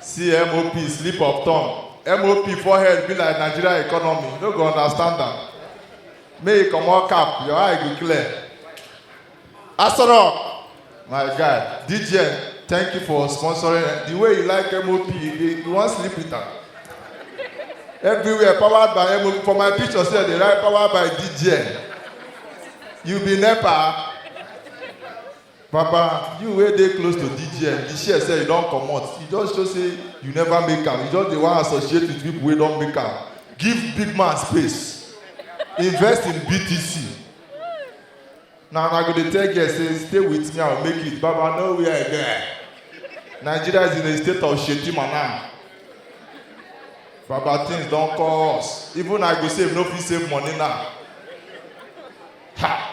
See MOP slip of tongue. MOP forehead be like Nigeria economy. You no go understand am. May you comot cap, your eye go clear. Asoro, my guy, DJN, thank you for sponsoring. The way you like MOP, you, dey- you wan sleep with am. Everywhere powered by MOP. For my picture, say they write powered by DJN. You be NEPA. Papa, you wey dey close to DGM, the share say you don comot, e just show say you never make am, you just dey wan associate with people wey don make am. Give big man space, invest in BTC. Na una go dey tell girls say stay with me, I will make it, Baba no where again. Nigeria is in a state of Shetima now. Baba things don cost, even I go save no fit save money now. Ha!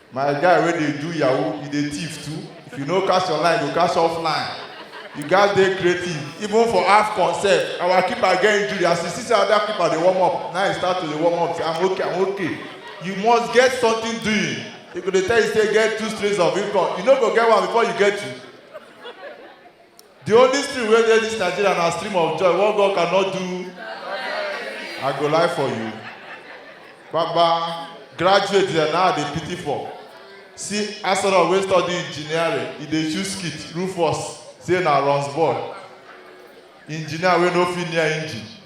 My guy wey dey do yahoo, you dey thief too. If you no cast online, you go cast offline. You gats dey creative. Even for AFCON sef, our keeper get injury. As you see say other keeper dey warm up, now he start to dey warm up say, I'm okay, I'm okay. You must get something doing. They go dey tell you say get two streams of income. You no go get one before you get two. The only stream wey dey this Nigeria na stream of joy. What God cannot do, I go lie for you. Baba, graduate there now I dey pity for. See Asoro wey study engineering, e dey choose skit, Rufus say na runs boy. Engineer wey no fit near engine,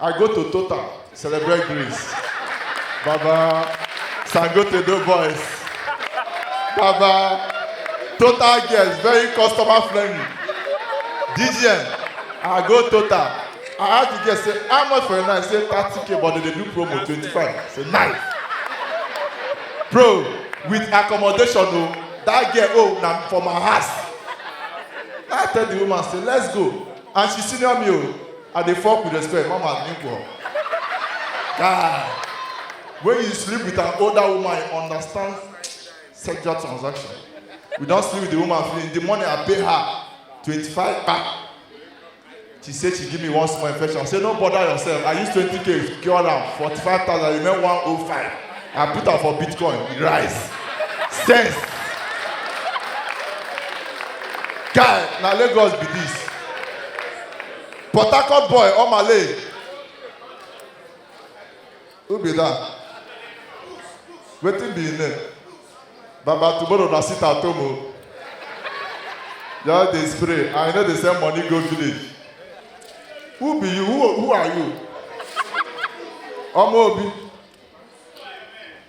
I go to Total, celebrate Greece. Baba, Sangote do boys. Baba, Total girls, very customer friendly. DGN, I go Total. I ask the girl, say, how much for a night? Say, 30k, but they dey do promo, 25. Say, nice. Bro, with accommodation, oh, that girl, oh, na for my house. I tell the woman, say, let's go. And she senior me, oh. I dey fuck with respect, mama nigga. Guy, when you sleep with an older woman, you understand sexual transaction. We don sleep with the woman finish. The money I pay her, 25 kpa. She say she give me one small infection. I say no bother yourself. I use 20k cure am, 45,000 remain 105. I put am for Bitcoin, e rise. Sense. Guy, na Lagos be this. Port Harcourt boy, Omale. Who be that? Wetin be him name? Baba tomorrow na sit at home o. Just dey spray and you no dey send money go village. Who be you? Who, who are you? Ọmọ Obi.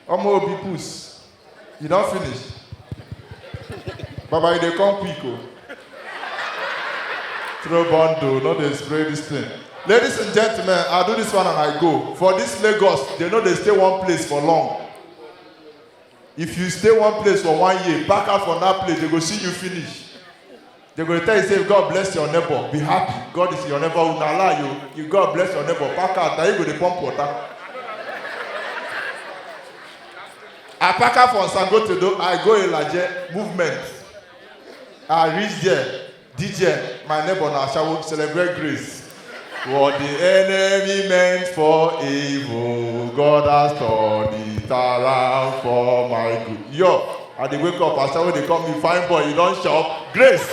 Ọmọ Obi puss. You don finish? Baba, you dey come quick o. Throw bundle, no dey spray this thing. Ladies and gentlemen, I do this one and I go. For this Lagos, they no dey stay one place for long. If you stay one place for one year, pack out from that place, they go see you finish. They go tell you say God bless your neighbor, be happy. God is your neighbor. Una lie you. You God bless your neighbor. Pack out. Now you go dey pump water. I pack out from Sangotedo. I go Ilaje movement. I reach there. DJ, my neighbor na Ashawo celebrate grace. What the enemy meant for evil, God has turned it around for my good. Yo, I dey wake up, as someone dey call me fine boy, you don shop, grace.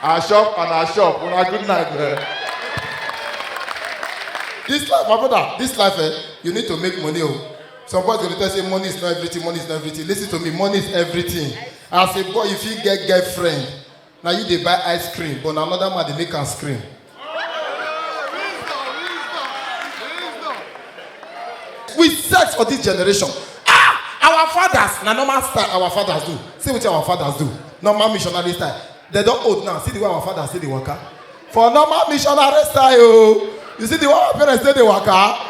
I shop and I shop, una good night, man. This life, my brother, this life, eh, you need to make money. Oh. Some boys will tell say money is not everything, money is not everything. Listen to me, money is everything. As a boy, if you get girlfriend, Na you dey buy ice cream but na another man dey make am scream. We sex for this generation. Ah! Our fathers, na normal style our fathers do. See wetin our fathers do. Normal missionary style. They don old now. See the way our fathers take dey waka. For normal missionary style o. You see the way our parents take dey waka.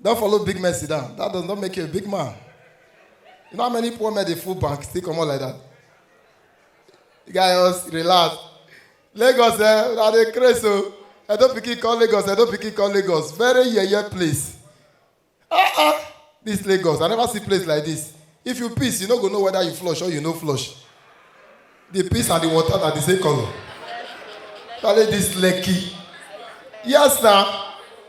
Don't follow big men sit down. That does not make you a big man. You know how many poor men they full bank still come out like that? You guys relax. Lagos, eh? Now they crazy. So. I don't pick it call Lagos. I don't pick it call Lagos. Very yeah, yeah place. Ah, ah. This Lagos. I never see place like this. If you piss, you no go know whether you flush or you no flush. the piss and the water na the same colour tale this lekki yes na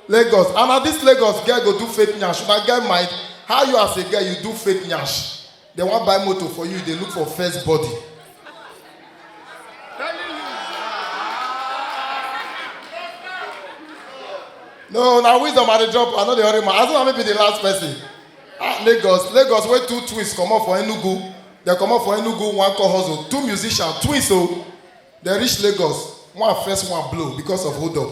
lagos and na this lagos girl go do fake nyash una get mind how you as a girl you do fake nyash dem wan buy motor for you you dey look for first body no na wisdom i dey drop i no dey hurry my as una maybe the last person ah lagos lagos wey two twins comot for enugu Dem comot for Enugu, one call hustle, two musician, twins o. Oh. Dem reach Lagos, one first one blow because of hold up.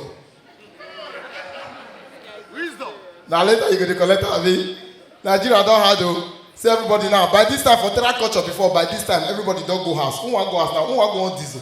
Wisdom. Na later you go dey collect abi. Nigeria don hard o. Oh. See everybody now, by this time for terra culture before, by this time everybody don go house. Who wan go house now? Who wan go on diesel?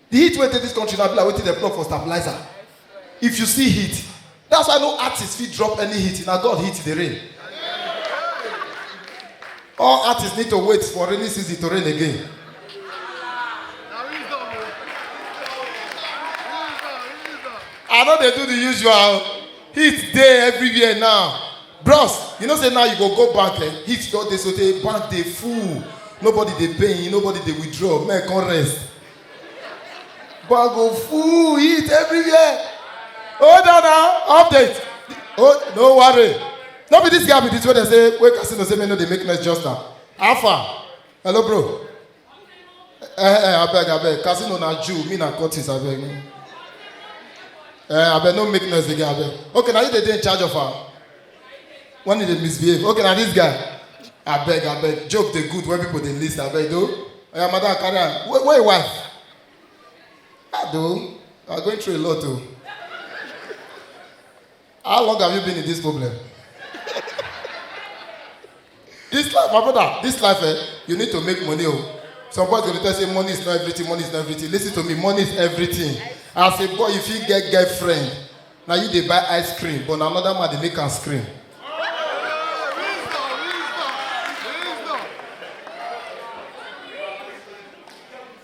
The heat wey dey this country na be like wetin dem plug for stabilizer. If you see heat, that's why no artist fit drop any heat, na God heat dey rain. All artists need to wait for rainy season to rain again. I no dey do the usual. Heat dey everywhere now. Bros, you know say now you go go bank, eh? heat don dey so tey bank dey full. Nobody dey pay, nobody dey withdraw, men come rest. But go full it everywhere. Hold on now, update. Oh, no worry. No be this guy be this way they say, wait, casino say, me no, they make noise just now. Alpha. Hello, bro. Eh, eh, I beg, I beg. Casino na Jew, me na Curtis, I beg. Eh, I beg, no make noise again, I beg. Okay, now you they dey in charge of her. when you dey misbehave okay na this guy abeg abeg joke dey good when people dey lis ten abeg do oya madam carry am where where your wife ah do you are going through a lot o how long have you been in this problem This life, my brother, this life, eh, you need to make money. Oh. Some boys go dey tell say money is not everything, money is not everything. Listen to me, money is everything. As a boy, if you get girlfriend, now you dey buy ice cream, but na another man dey make am scream.